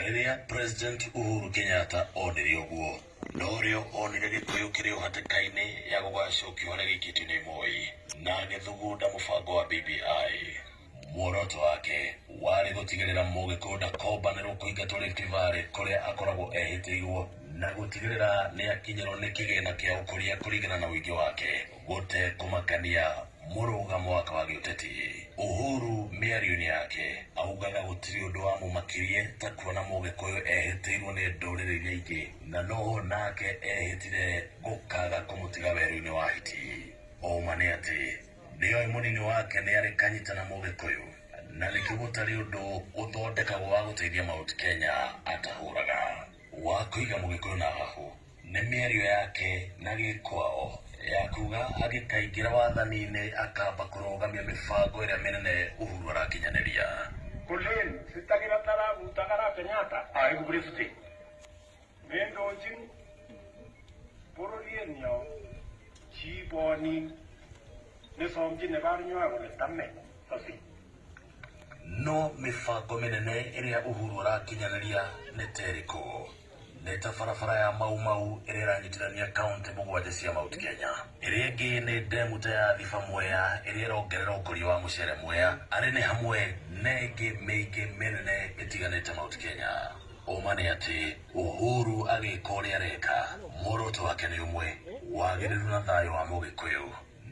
Rĩrĩa President Uhuru Kenyatta onire ũguo, norĩo onire Gĩkũyũ kĩrĩ o hatĩka-inĩ ya gũgacokio harĩa gĩikĩtio nĩ Moi, na agĩthugunda mũbango wa BBI. Muoroto wake warĩ gũtigĩrĩra Mũgĩkũyũ ndakombanĩrwo kũingatwo Rift Valley kũrĩa akoragwo ehĩtĩirwo, na gũtigĩrĩra nĩakinyĩrwo nĩ kĩgĩna kĩa ũkũria kũringana na ũingĩ wake. Gũtekũmakania mũrũga mwaka wa gĩũteti, Uhuru mĩarioinĩ yake augaga gũtirĩ ũndũ wamũmakirie ta kuona mũgĩkũyũ ehĩtĩirwo nĩ ndũrĩrĩ iria ingĩ na noho nake ehĩtire gũkaga kũmũtiga werũinĩ wa hiti. Ũũma nĩ atĩ nĩoĩ mũnini wake nĩarĩ kanyita na mũgĩkũyũ na nĩkĩo gũtarĩ ũndũ ũthondekagwo wa gũteithia Mount Kenya atahũraga wa kũiga mũgĩkũyũ na hahũ. Nĩ mĩario yake na Gĩkwao ya kuga agĩkaingĩra wathani-inĩ akamba kũrũgamia mĩbango ĩrĩa mĩnene Uhuru arakinyanĩria. Kolin sitagĩra taraguta ara Kenyatta aĩku Brifty mĩndũnji bũrũri-ĩnĩo ciiboni nĩsomji nĩbarnywago nĩtame tosi. No mĩbango mĩnene ĩrĩa Uhuru arakinyanĩria nĩ terĩkũ? Nĩ ta barabara ya Mau Mau ĩrĩa ĩranyitithania kaunti mũgwanja cia Mount Kenya. Ĩrĩa ĩngĩ nĩ ndemu ta ya Thiba Mwea ĩrĩa ĩrongerera ũkũria wa mũcere Mwea. Arĩ nĩ hamwe na ĩngĩ mĩingĩ mĩnene ĩtiganĩte Mount Kenya. Ũma nĩ atĩ Uhuru agĩka ũrĩa areka, muoroto wake nĩ ũmwe, wagĩrĩru na thayũ wa Mũgĩkũyũ.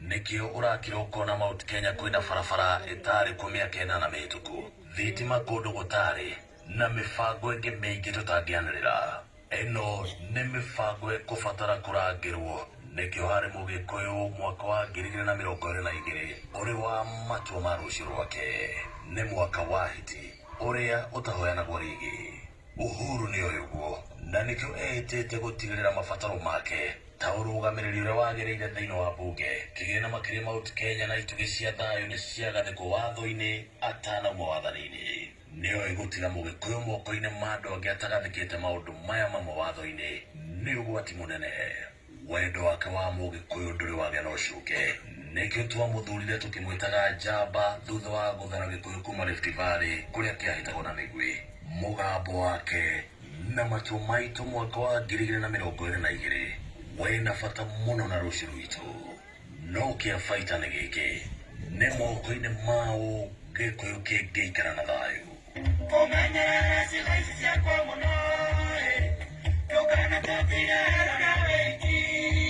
Nĩkĩo ũrakira ũkona Mount Kenya kwĩna barabara ĩtarĩ kuo mĩaka ĩnana mĩhĩtũku, thitima kũndũ gũtarĩ, Na mĩbango ĩngĩ mĩingĩ tũtangĩanĩrĩra. Ĩno nĩ mĩbango ĩkũbatara kũrangĩrwo, nĩkĩo harĩ Mũgĩkũyũ mwaka wa ngiri igĩrĩ na mĩrongo ĩrĩ na igĩrĩ ũrĩ wa matua ma rũciũ rwake. Nĩ mwaka wa hiti, ũrĩa ũtahoyanagwo rĩngĩ. Uhuru nĩ oĩ ũguo, na nĩkĩo eĩtĩte gũtigĩrĩra mabataro make ta ũrũgamĩrĩri ũrĩa wagĩrĩire thĩinĩ wa mbunge, kĩgĩna makĩria Mount Kenya na itugĩ cia thayũ nĩ ciagathĩkwo watho-inĩ atanauma wathani-inĩ. Nĩoĩ gũtiga Mũgĩkũyũ moko-inĩ ma andũ angĩ atagathĩkĩte maũndũ maya mamwe watho-inĩ nĩ ũgwati mũnene. Wendo wake wa Mũgĩkũyũ ndũrĩ wagĩa na ũcuke. Nĩkĩo twamũthurire tũkĩmwĩtaga njamba thutha wa gũthara Gĩkũyũ kuma Rift Valley kũrĩa kĩahĩtagwo na mĩguĩ. Mũgambo wake na matua maitũ mwaka wa ngiri igĩrĩ na mĩrongo ĩrĩ na igĩrĩ wĩna bata mũno na rũciũ rwitũ. No kĩabaita nĩ gĩkĩ, nĩ moko-inĩ maũ Gĩkũyũ kĩngĩikara na thayũ? Kũmenyerera ciĩga ici ciakwa mũno-ĩ, ndũkanatũtige ero na wĩki-inĩ.